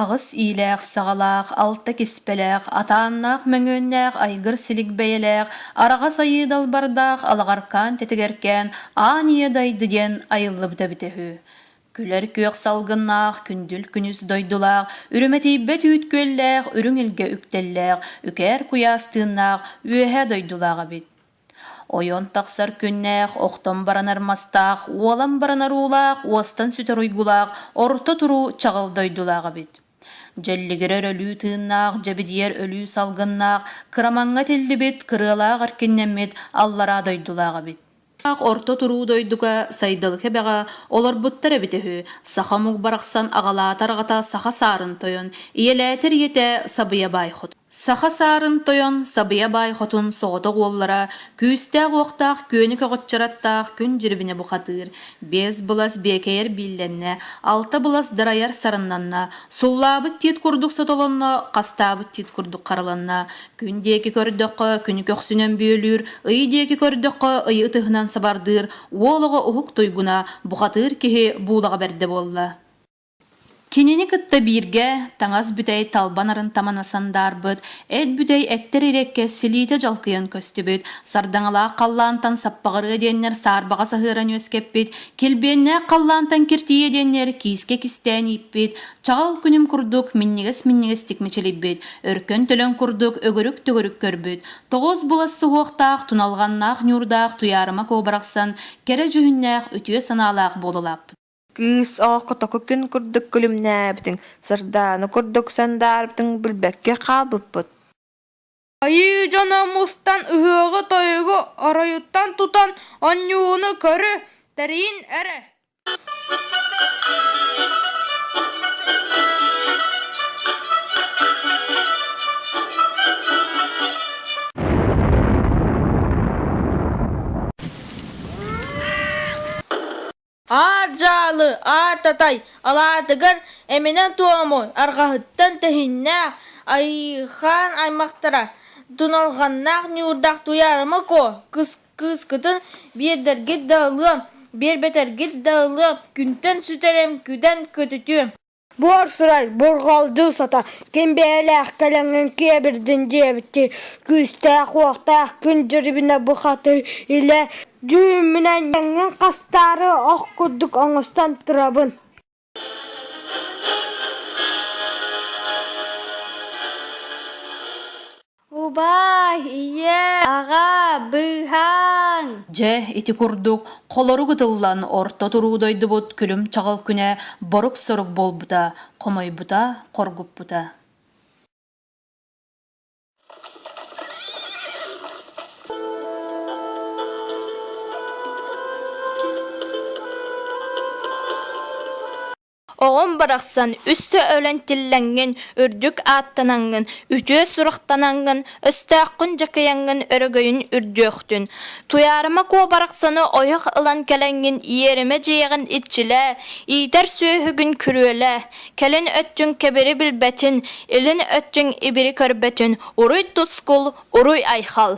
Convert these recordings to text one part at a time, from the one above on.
Аҕыс иилээх-саҕалаах, алта киспэлээх, атааннаах мөҥүөннээх айгыр-силик бэйэлээх, араҕас айыы далбардаах алаҕаркаан тэтигэркээн аан ийэ дайды диэн айыллыбыта эбитэ үһү. Күлэр күөх салгыннаах, күндүл күнүс дойдулаах, үрүмэтийбэт үүт күөллээх, үрүҥ илгэ үктэллээх, үкээр куйаас тыыннаах, үөһэ дойдулаах эбит. Ойон тахсар күннээх охтон баран армастаах, уолан баран аруулаах, уостан сүтэр уйгулаах, орто туруу чаҕыл дойдулаах эбит. Дьэллигирэ өрөлүү тыыннаах, дьэбидийэр өлүү салгыннаах, кырамаҥҥа тиллибит, кырыалаах эркиннэммит аллараа дойдулаах эбит. Орто туруу дойдуга сайдалы кэбэҕэ олорбуттар эбитэ үһү. Саха омук барахсан аҕалаата-арҕата саха саарын тойон, ийэлээтэр ийэтэ Сабыйа баай хотун. Саха саарын тойон Сабыйа Баай Хотун соҕотох уоллара күүстээх-уохтаах күөнү көҕүччараттаах күн дьирибинэ бухатыыр, биэс былас биэкэйэр бииллэннэ, алта былас дырайар сарыннанна, суллаабыт тиит курдук сотолонно, хастаабыт тиит курдук хараланна, күн диэки көрдөххө күнү көхсүнэн бүөлүүр, ый диэки көрдөххө ый ытыһынан сабардыыр, уол оҕо уһук туйгуна, бухатыыр киһи буулаҕа бэрдэ буолла. Кинини кытта бииргэ таҥас бүтэй талба нарын тамана сандаарбыт, эт бүтэй эттэр иреккэ силиитэ дьалкыйан көстүбүт, сардаҥалаах халлаантан саппаҕырыа диэннэр саарбаҕа саһыаран үөскэппит, килбиэннээх халлаантан киртийиэ диэннэр киискэ кистээн ииппит, чаҕыл күнүм курдук минньигэс-минньигэстик мичилийбит, өркөн төлөн курдук өгүрүк-төгүрүк көрбүт, тоҕус былас суһуохтаах туналҕаннаах ньуурдаах туйаарыма куобарахсан кэрэ дьүһүннээх үтүө санаалаах буола улааппыт. Кыыс оҕоххо току күн курдук күлүмнээбитиҥ, сардаана курдук сандаарбытыҥ билбэккэ хаалбыппыт. Айыы дьоно мустан ыһыаҕы-тойугу оройуттан тутан онньууну көрө, тэрийин эрэ Аар дьаалы, аар татай алаатыгар эминэ-туому арҕаһыттан тэһиннээх айыылаах аймахтара Туналҕаннаах Ньуурдах Туйаарымыкоо кыыскытын биэрдэргит да ылыам, биэрбэтэргит да ылыам, күнтэн сүтэрим, күдэн көтүтүөм буорсурай бурҕалдьыл сото ким бэйэлээх кэлэҥҥин киэбирдин диэбитин күүстээх-уохтаах күн дьирибинэ бухатыр илэ дьүһүммүнэн дьаҥҥын хастаары ох курдук оҥостон турабын Убаай, ийээ, аҕаа, быыһааҥ! Дьэ, ити курдук холорук ытыллан орто туруу дойдубут күлүм-чаҕыл күнэ борук-сорук буолбута, хомойбута, хоргуппута. Оҕом барахсан үстэ өлөн тиллэҥҥин, үрдүк ааттанаҥҥын, үтүө сурахтанаҥҥын, өстөөххүн дьакыйаҥҥын өрөгөйүн үрдүөхтүн. Туйаарыма куо барахсаны ойох ылан кэлэҥҥин иэримэ дьиэҕин иччилээ, иитэр сүөһүгүн күрүөлээ. Кэлин өттүҥ кэбири билбэтин, илин өттүҥ ибири көрбөтүн, уруй тускул, уруй айхал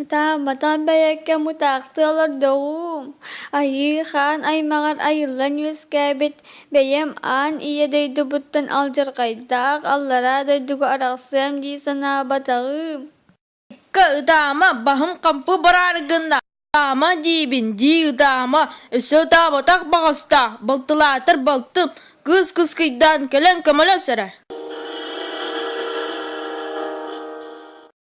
Ытаамматаан бэйэккэ мутаахтыы олордоҕум. Айыы хаан аймаҕар айыллан үөскээбит бэйэм аан ийэ дойдубуттан алдьархайдаах аллараа дойдуга арахсыам дии санаабатаҕым Экка ытаама баһым хампы бараары гынна ытаама диибин дии ытаама өссө ытаабатах баҕастаах балтылаатар балтым кыыс кыскыйдаан кэлэн көмөлөс эрэ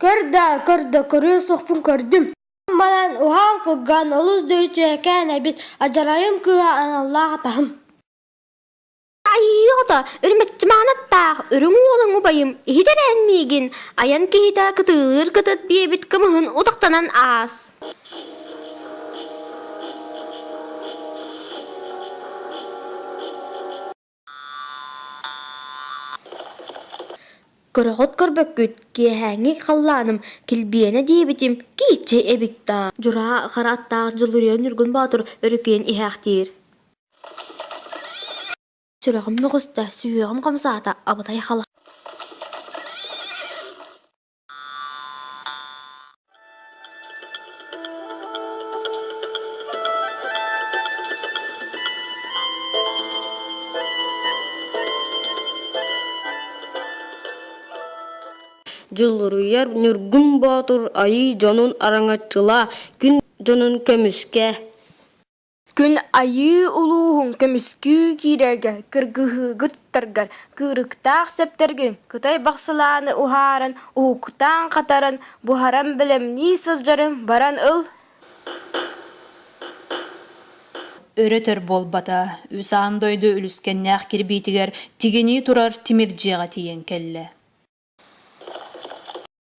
Көр да, көр да, көрүө суохпун көрдүм. Ам баран, уһаан кылган, олус да үтүөкээн эбит, адьарайым кыыһа аналлаах атаһым Айыыҕыта, үрмэччи маанаттаах үрүҥ уолуҥ убайым иһитэрээн миигин айан киһитэ кытыылыыр кытыт биэбит кымыһын утахтанан аас көрөҕүт көрбөккүт киэһээҥҥи халлааным килбиэнэ диэбитим кииччи эбит даа дьураа хара аттаах дьулуруйа ньургун боотур өрүкүйэн иһээхтиир сүрэҕим ньоҕуста сүһүөҕүм хамсаата абытай хала Дьулуруйар Ньургун Боотур Айыы дьонун араҥаччыла, күн дьонун көмүскэ Күн Айыы улууһун көмүскүү киирэргэ кыргыһыыгыттаргар кыырыктаах сэптэргин кытай бахсылааны уһааран уһуктан-хатаран буһаран бэлэмнии сылдьарын баран ыл өрө-төр буолбата үс аан дойду үлүскэннээх кирбиитигэр тигинии турар тимир дьиэҕэ тиийэн кэллэ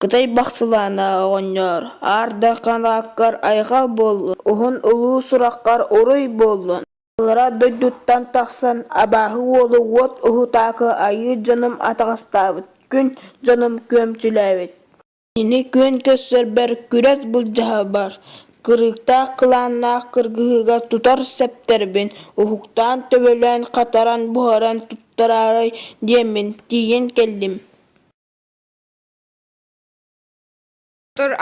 Кытай бахсылаана оҕонньор, аардаххан ааккар айхал буоллун, уһун улуу сураххар уруй буоллун. Аллара дойдуттан тахсан абааһы уолу уот уһутаакы айыы дьонум атаҕастаабыт, күн дьонум күөмчүлээбит. Ини күөн көссөрбөр күрэс былдьаһа бар, кырыктаах кылааннаах кыргыһыыга тутар сэптэрбин уһуктаан, төбөлөөн, хатаран, буһаран тураарай диэммин тиийэн кэллим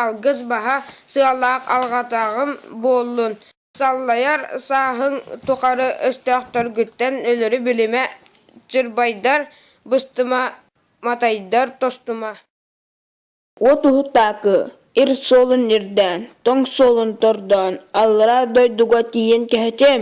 алгыс баһа сыалаах алҕатаҕым буоллун саллайар сааһыҥ тухары өстөөхтөргүттэн өлөрү билимэ чырбайдар быстыма матайдар тостума от уһутаакы ир суолун ирдээн тоҥ суолун тордоон аллараа дойдуга тиийэн кэһэтиэм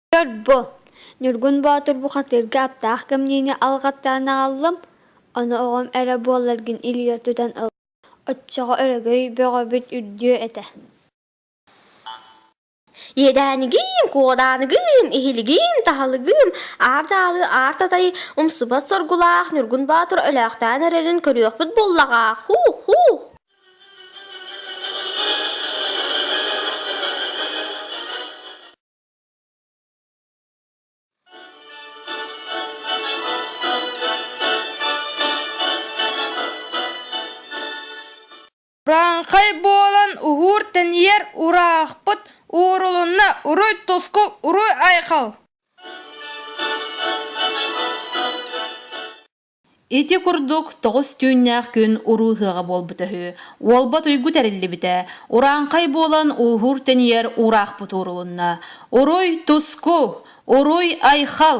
Төрт бу Ньургун Боотур бухатыырга аптаах кэмниини алҕаттаран аҕаллым, ону оҕом эрэ буолларгын илиигэр тутан ыл, оччоҕо өрөгөй бөҕөбүт үрдүө этэ Иэдээниgiim, куоданыгыым, иһилигиим, таһалыгыым, аар дьаалы, аар татайы умсубат соргулаах Ньургун Боотур өлөөхтөөн эрэрин көрүөхпүт буоллаҕа. Хуу-хуу! Франхай буолан уһуур тэнийэр ураахпыт уурулунна уруй тускул уруй айхал Ити курдук тоҕус түүннээх күн урууһуаҕа буолбута үһү. Уолбат уйгу тэриллибитэ. Урааҥхай буолан ууһуур тэнийэр уураахпыт уурулунна. Уруй туску! Уруй айхал!